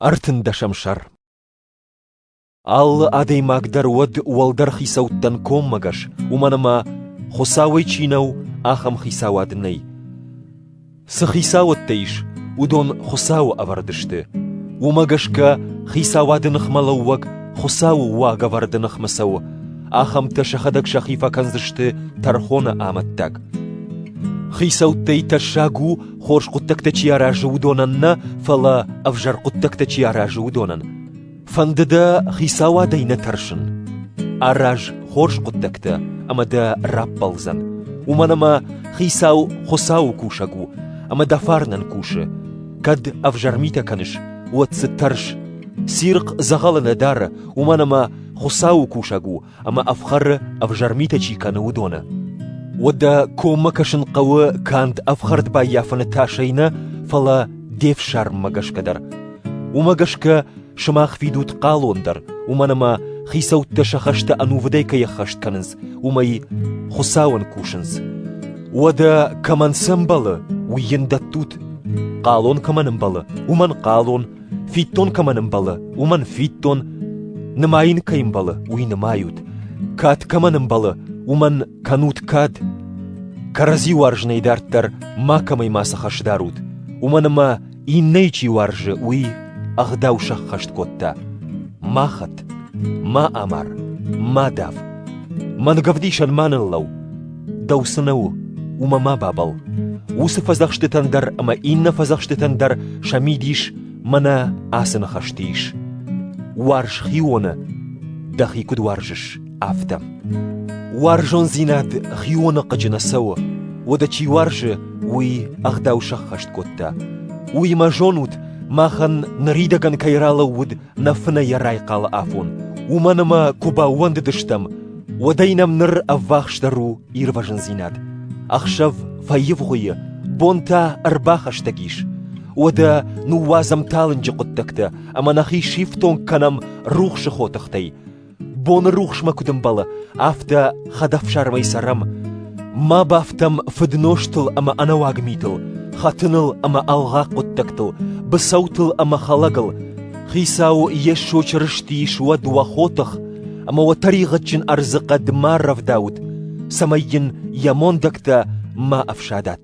Ӕртындӕсӕм сӕр Алы адӕймаг дӕр уӕд уӕлдӕр хицӕуттӕн коммӕгӕс, уымӕн ӕмӕ, Хуыцауӕй чи нӕу, ахӕм хицауад нӕй. Цы хицауӕдтӕ ис, уыдон Хуыцауы ӕвӕрд сты. Уымӕ гӕсгӕ хицауады ныхмӕлӕууӕг Хуыцауы уагӕвӕрды ныхмӕ цӕуы, ахӕмтӕ сӕхӕдӕг сӕхи фӕкӕндзысты тӕрхоны амӕттаг. Хицӕуттӕй тӕссаг у Хорз хъуыддӕгтӕ чи аразы, уыдонӕн нӕ, фӕлӕ ӕвзӕр хъуыддӕгтӕ чи аразы, уыдонӕн. Фӕнды дӕ хицауадӕй нӕ тӕрсын? Араз хорз хъуыддӕгтӕ, ӕмӕ дӕ раппӕлдзӕн. Уымӕн ӕмӕ хицау Хуыцауы кусӕг у, ӕмӕ дӕ фарнӕн кусы. Кӕд ӕвзӕр митӕ кӕныс, уӕд дзы тӕрс. Цирхъ дзӕгъӕлы нӕ дары, уымӕн ӕмӕ Хуыцауы кусӕг у, ӕмӕ ӕфхӕры ӕвзӕр митӕ чи кӕны, уыдоны. Уӕдӕ коммӕ кӕсын хъӕуы канд ӕфхӕрд баййафыны тасӕй нӕ, фӕлӕ де фсарммӕ гӕсгӕ дӕр. Уымӕ гӕсгӕ сымах фидут хъалон дӕр, уымӕн ӕмӕ хицӕуттӕ сӕ хӕстӕ ӕнувыдӕй кӕй ӕххӕст кӕнынц, уымӕй Хуыцауӕн кусынц. Уӕдӕ кӕмӕн сӕмбӕлы, уый йын дӕттут? Хъалон кӕмӕн ӕмбӕлы, уымӕн хъалон Фиддон кӕмӕн ӕмбӕлы, уымӕн фиддон, нымайын кӕй ӕмбӕлы, уый нымайут. Кад кӕмӕн ӕмбӕлы, уымӕн кӕнут кад. Кӕрӕдзи уарзынӕй дарддӕр макӕмӕй ма цы хӕс дарут, уымӕн ӕмӕ иннӕйы чи уарзы, уый ӕгъдау сӕххӕст кодта. Ма хӕт, ма амар, ма дав. Мӕнгӕвдисӕн ма ныллӕу. Дӕу цы нӕ у, уымӕ ма бабӕл. Уыцы фӕдзӕхстытӕн дӕр ӕмӕ иннӕ фӕдзӕхстытӕн дӕр сӕ мидис мӕнӕ ацы ныхӕсты ис. Уарз хионы, дӕхи куыд уарзыс, афтӕ. Уарзондзинад хионы хъыджы нӕ цӕуы, уӕдӕ чи уарзы, уый ӕгъдау сӕххӕст кодта. Уыимӕ зонут, махӕн ныридӕгӕн кӕй ралӕууыд нӕ фынӕйӕ райхъалы афон, уымӕн ӕмӕ куы баууӕндыдыстӕм, Уӕдӕй нӕм ныр ӕввахсдӕр у ирвӕзындзинад. Ӕхсӕв фӕивгъуыйы, бон та ӕрбахӕстӕг ис. Уӕдӕ ныууадзӕм талынджы хъуыддӕгтӕ ӕмӕ нӕхи сифтонг кӕнӕм рухсы хотыхтӕй. Боны рухсмӕ куыд ӕмбӕлы, афтӕ хӕдӕфсармӕй цӕрӕм. Ма бафтӕм фыднозтыл ӕмӕ ӕнӕуаг митыл, хӕтыныл ӕмӕ ӕлгъаг хъуыддӕгтыл, быцӕутыл ӕмӕ хӕлӕгыл. Хицау Йесо Чырысти ис уӕд уӕ хотых, ӕмӕ уӕ тӕригъӕдджын ӕрдзы хъӕд ма рӕвдауыд, цӕмӕй йын йӕ мондӕгтӕ ма ӕфсадат.